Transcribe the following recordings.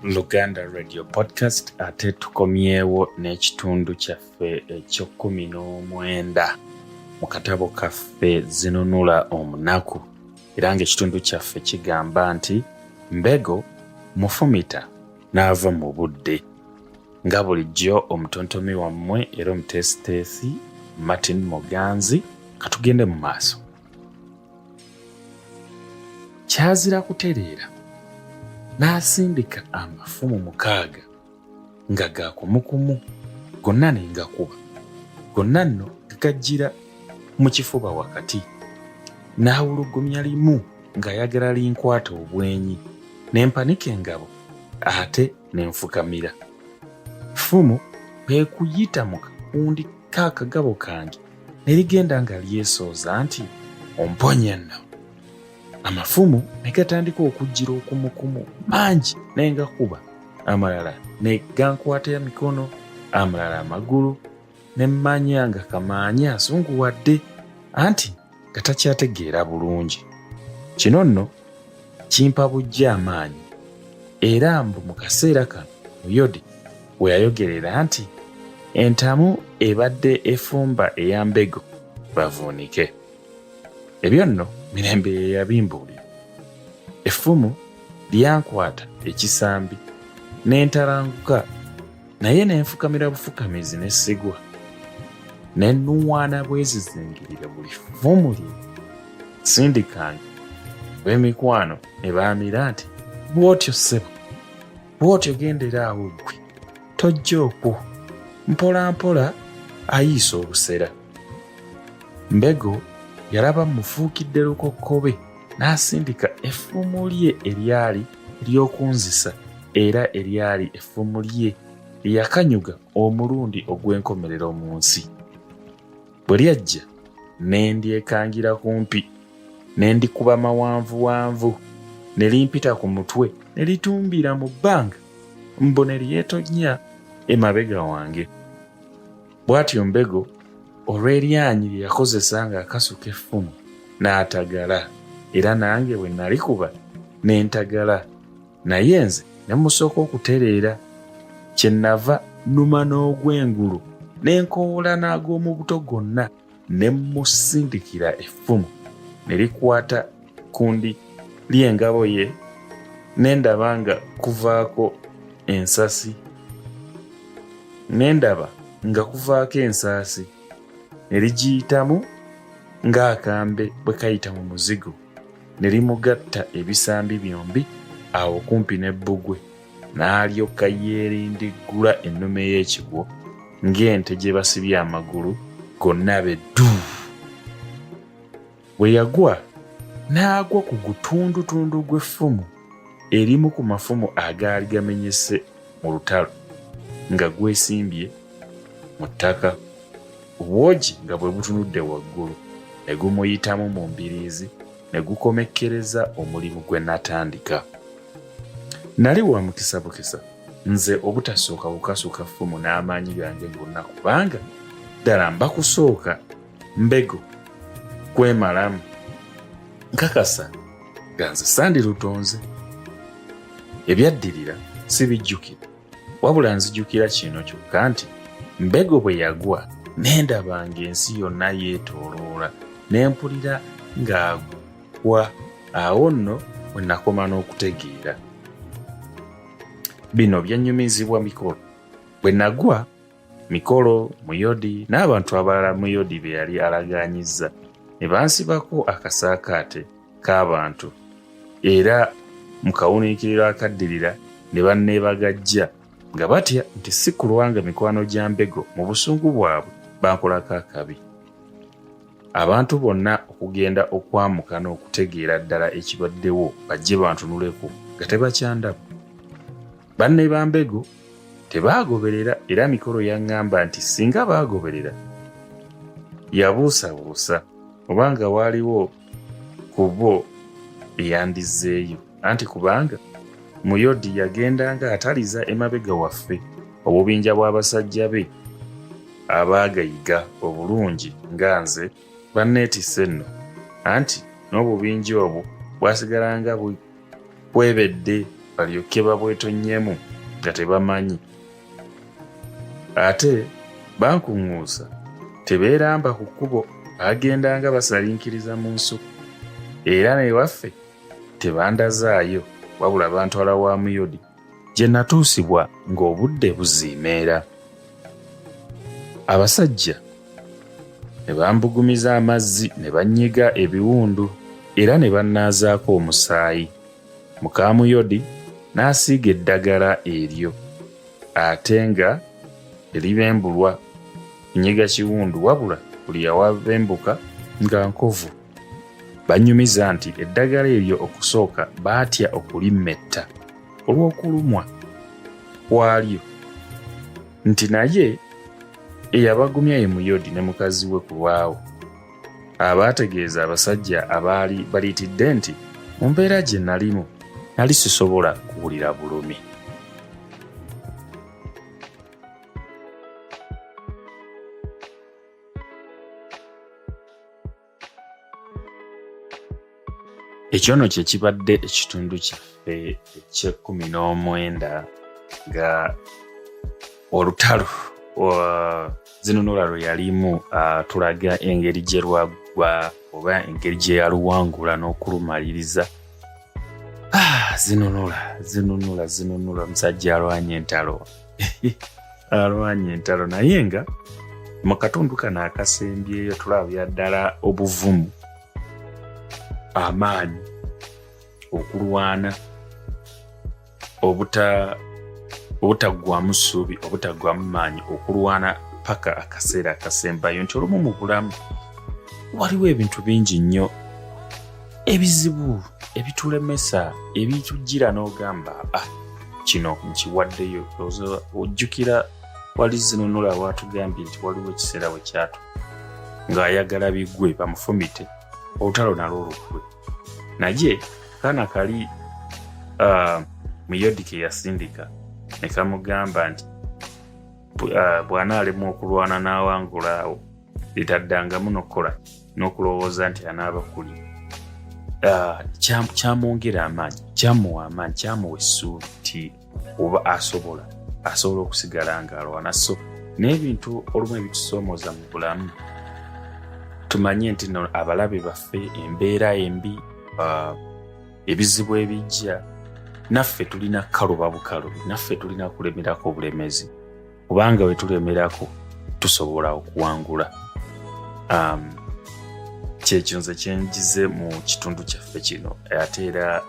luganda radio podcast ate tukomyewo n'ekitundu kyaffe ekyokumi n'omwenda mu katabo kaffe zinunula omunaku era ng'ekitundu kyaffe kigamba nti mbego mufumita n'ava mu budde nga bulijjo omutontomi wammwe era omuteesiteesi martin muganzi katugende mu maaso kyazira kutereera n'asindika amafumu mukaaga nga ga kumukumu gonna ne ngakuba gonna nno gagajjira mu kifuba wakati n'awulugumya limu ng'ayagala linkwata obwenyi ne mpanika engabo ate ne nfukamira ffumu kwe kuyita mu kakundi k'akagabo kange ne ligenda nga lyesooza nti omponya nno amafumu ne gatandika okujjira okumukumu mangi naye ngakuba amalala ne gankwata emikono amalala amagulu ne mmanya nga kamaanya asunguwadde anti nga takyategeera bulungi kino nno kimpa bujja amaanyi era mbu mu kaseera kano muyodi we yayogerera nti entamu ebadde efumba eya mbego bavuunike ebyo nno mirembe ye yabimbuulira effumu lyankwata ekisambi n'entalanguka naye ne nfukamira bufukamizi ne sigwa ne nnuwaana bwezizingirire buli ffumu lye sindikanga bw'emikwano ne baamira nti bw'otyo ssebo bw'otyo gendera awo ggwe tojja okwo mpolampola ayiisa obusera mbego yalaba mufuukidde lukokkobe n'asindika effumu lye eryali ly'okunzisa era eryali effumu lye lye yakanyuga omulundi ogw'enkomerero mu nsi. Bwe lyajja, ne ndyekangira kumpi, ne ndikuba mawanvuwanvu, ne limpita ku mutwe, ne litumbira mu bbanga, mbu ne lyetonnya emabega wange. bw'atyo mbego olw'eryanyi lye yakozesa ng'akasuka effumu n'atagala era nange bwe nalikuba ne ntagala naye nze ne musooka okutereera kye nava numa n'ogw'engulu ne nkowolana ag'omu buto gonna ne mmusindikira effumu ne likwata ku ndi ly'engabo ye ne ndaba nga kuvaako ensasi ne ndaba nga kuvaako ensaasi ne ligiyitamu ng'akambe bwe kayita mu muzigo ne limugatta ebisambi byombi awo kumpi ne bbugwe n'alyoka yeerindiggula ennume y'ekigwo ng'ente gye basibye amagulu gonna be ddu bwe yagwa n'agwa ku gutundutundu gw'effumu erimu ku mafumu agaali gamenyese mu lutalo nga gwesimbye mu ttaka obwogi nga bwe butunudde waggulu ne gumuyitamu mu mbiriizi ne gukomekkereza omulimu gwe natandika nali wa mukisa bukisa nze obutasooka bukasuka ffumu n'amaanyi gange gonna kubanga ddala mba kusooka mbego kwemalamu nkakasa nga nze sandirutonze ebyaddirira sibijjukira wabula nzijukira kino kyokka nti mbego bwe yagwa nendabanga ensi yonna yeetooloola ne mpulira ng'ago wa awo nno we nakoma n'okutegeera bino byannyumizibwa mikolo bwe nagwa mikolo muyodi n'abantu abalala muyodi be yali alagaanyizza ne bansibako akasaakaate k'abantu era mu kawuniikiriro akaddirira ne banneebagajja nga batya nti si kulwanga mikwano gya mbego mu busungu bwabwe bankolako akabi Abantu bonna okugenda okwamuka n'okutegeera ddala ekibaddewo bajje bantunuleko nga tebakyandabu. Banne ba Mbego tebaagoberera era Mikolo yaŋŋamba nti singa baagoberera yabuusabuusa oba nga waaliwo ku bo eyandizzeeyo. anti kubanga muyodi yagendanga ataliza emabega waffe obubinja bw'abasajja be abaagayiga obulungi nga nze banneetisse nno anti n'obubinja obwo bwasigalanga bwebedde balyokke babwetonnyemu nga tebamanyi ate bankuŋŋuusa tebeeramba ku kkubo baagendanga basalinkiriza mu nsuku era newaffe tebandazaayo wabula bantwala wa muyodi gye natuusibwa ng'obudde buziimeera abasajja ne bambugumiza amazzi ne bannyiga ebiwundu era ne bannaazaako omusaayi mukaamuyodi n'asiiga eddagala eryo ate nga eribembulwa nyiga kiwundu wabula buli yawabembuka nga nkovu Bannyumiza nti eddagala eryo okusooka baatya okulimmetta olw'okulumwa kwalyo nti naye eyabagumya ye Muyodi ne mukazi we ku lwawo abaategeeza abasajja abaali baliitidde nti mu mbeera gye nalimu nali sisobola kuwulira bulumi. ekyo no kye kibadde ekitundu kyaffe eky'ekkumi n'omwenda nga olutalo zinunula lwe yalimu tulaga engeri gye lwaggwa oba engeri gye yaluwangula n'okulumaliriza ah, zinunula zinunula zinunula omusajja alwanya entalo alwanye entalo naye nga mu katundu kano akasembyeyo tulabya ddala obuvumu amaanyi okulwana obutaggwamu ssuubi obutaggwamu maanyi okulwana paka akaseera akasembayo nti olumu mu bulamu waliwo ebintu bingi nnyo ebizibu ebitulemesa ebitujjira n'ogamba ah, kino nkiwaddeyo ojjukira wali zinunula waatugambye nti waliwo ekiseera we kyatu ng'ayagala bigwe bamufumite olutalo nalwo olukwe naye kaana kali uh, muyodi ke yasindika ne kamugamba nti uh, bw'anaalemwa okulwana n'awangulaawo litaddangamu n'okukola n'okulowooza nti anaaba kuli ah, kyamwongera amaanyi kyamuwa amaanyi kyamuwa essuubi nti oba asobola asobola okusigala ng'alwana so n'ebintu olumu ebitusoomoza mu bulamu tumanye nti no abalabe baffe embeera embi ah, ebizibu ebijja naffe tulina kukaluba bukalubi naffe tulina kulemerako obulemezi kubanga bwe tulemerako tusobola okuwangula um, kyekyo nze kyenjize mu kitundu kyaffe kino ate era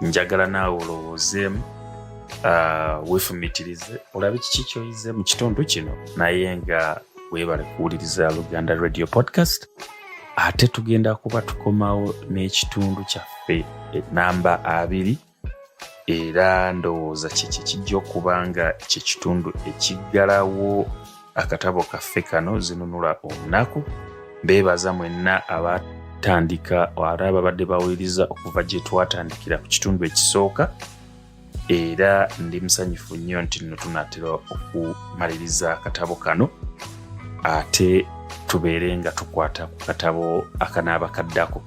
njagala naawe olowoozeemu uh, wefumitirize olabe kiki kyoyize mu kitundu kino naye nga weebale kuwuliriza luganda radio podcast ate tugenda kuba tukomawo n'ekitundu kyaffe enamba abiri era ndowooza kyekyo kijja okuba nga ekyo ekitundu ekiggalawo akatabo kaffe kano zinunula olunaku beebaza mwenna abatandika ara babadde bawuliriza okuva gye twatandikira ku kitundu ekisooka era ndi musanyufu nnyo nti nno tunaatera okumaliriza akatabo kano ate tubeere nga tukwata ku katabo akanaaba kaddako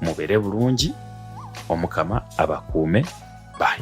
mubeere bulungi omukama abakuume bye